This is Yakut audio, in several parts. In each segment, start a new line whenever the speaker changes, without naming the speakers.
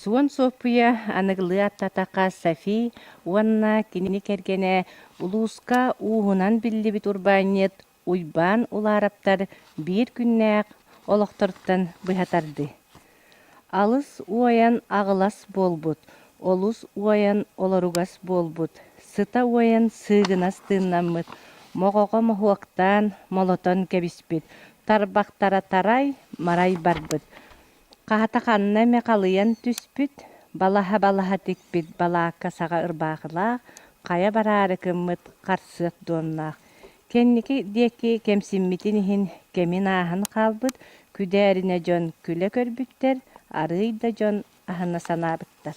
Суон Суоппуйа аныгылыы аттатака Софи уонна кини кэргэнэ улууска ууһунан биллибит урбаанньыт Уйбаан Улараптар биир күннээх олохтортон быһа тардыы. Алыс уойан аҕылас буолбут, олус уойан олоругас буолбут, сыта уойан сыыгынас тыыннаммыт, моҕоҕо моһуоктаан молотон кэбиспит, тарбахтара тарай-марай барбыт, Хаата ханна эмэ халыйан түспүт, балаһа-балаһа тикпит балаакка саҕа ырбаахылаах, хайа бараары гыммыт харсыат дуоннаах. Кэнники диэки кэмсиммитин иһин кэмин ааһан хаалбыт күдээринэ дьон күлэ көрбүттэр, арыый да дьон аһына санаабыттар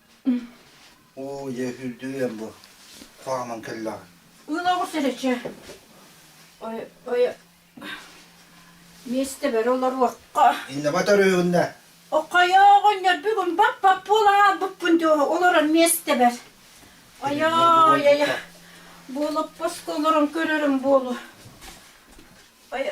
Оо, дьэ, үрдүү эн бу. Хааман кэллэҕэ. Ынаҕыр сэрэччэ. Ой, ой, миэстэ бэрэ олоруохха. Иннебэ төрүүгүннэ. Окойооҕун ньөрбүгүн бап-бап буола ааспыппын дьуо олорор миэстэбэр. Ойой, ай, буолаппаска олорон көрөрүм буолу. Ой,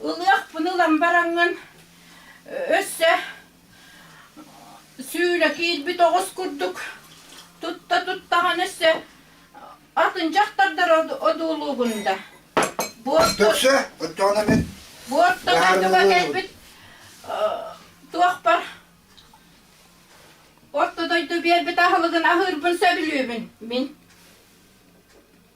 Ылыахпын ылан бараҥҥын өссө сүүлэ киирбит оҕус курдук тутта-туттаҕын өссө атын дьахтардар одуулуугун да. Төхсө, оттоона мен. Буотта дойдуга кэлбит туохпар орто дойду биэрбит аһылыгын аһыырбын сөбүлүүбүн мин.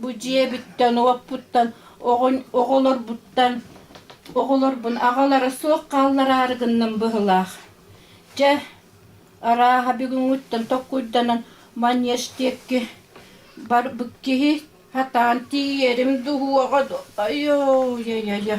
Бу дьиэбиттэн, уоппуттан, оҕонь, оҕолорбуттан, оҕолорбун аҕалара суох хааллараары гынным быһылаах. Дьэ, арааһа бүгүҥҥүттэн tokkуйданан манеж диэки барбыт киһи сатаан тиийэрим дуһуоҕа дуо айоо-йа-йа-йа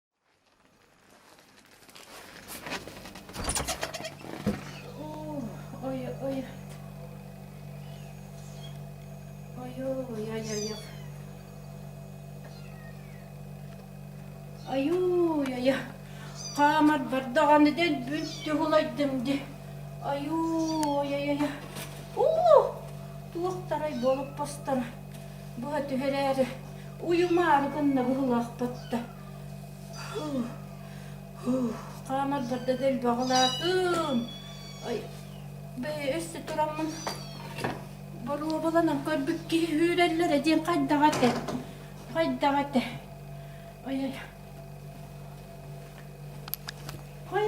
Айуу-айа, хаамар бардаҕаны дэн бүн түһулайдым ди. Айуу-айа-айа, уу! Туохтарай буолуп постара. Быһа түһэрээри уйумаары гынна быһылаахпат да. Хаамар барда да элбэҕилаатым. Бэйи өссө тураммын боруобаланан көрбүт киһи үүрэллэрэ диэн хайдаҕа этэ. Хайдаҕа этэ. Ой-ой. Ой.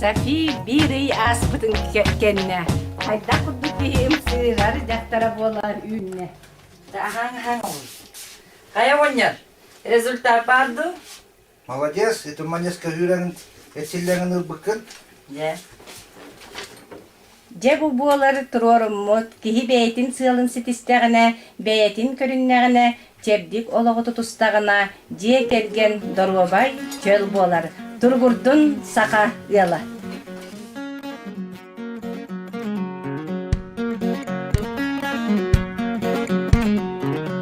Софи биир ый ааспытын кэннэ хайдах курдук киһим сыыһар дьахтара буолан үүннэ. Аһаҥ-аһаҥ оҕуй. Хайа оҕонньор, результат баар дуу? Молодец, это манец каһыыраҥын, этсиллэҥин ылбыккын. Дьэ. Дьэ бу буолар туруоруммут, киһи бэйэтин сыалын ситистэҕинэ, бэйэтин көрүннэҕинэ, чэбдик олоҕу тутустаҕына, дьиэ кэргэн доруобай, чөл буолар. Туругурдун саха ыала!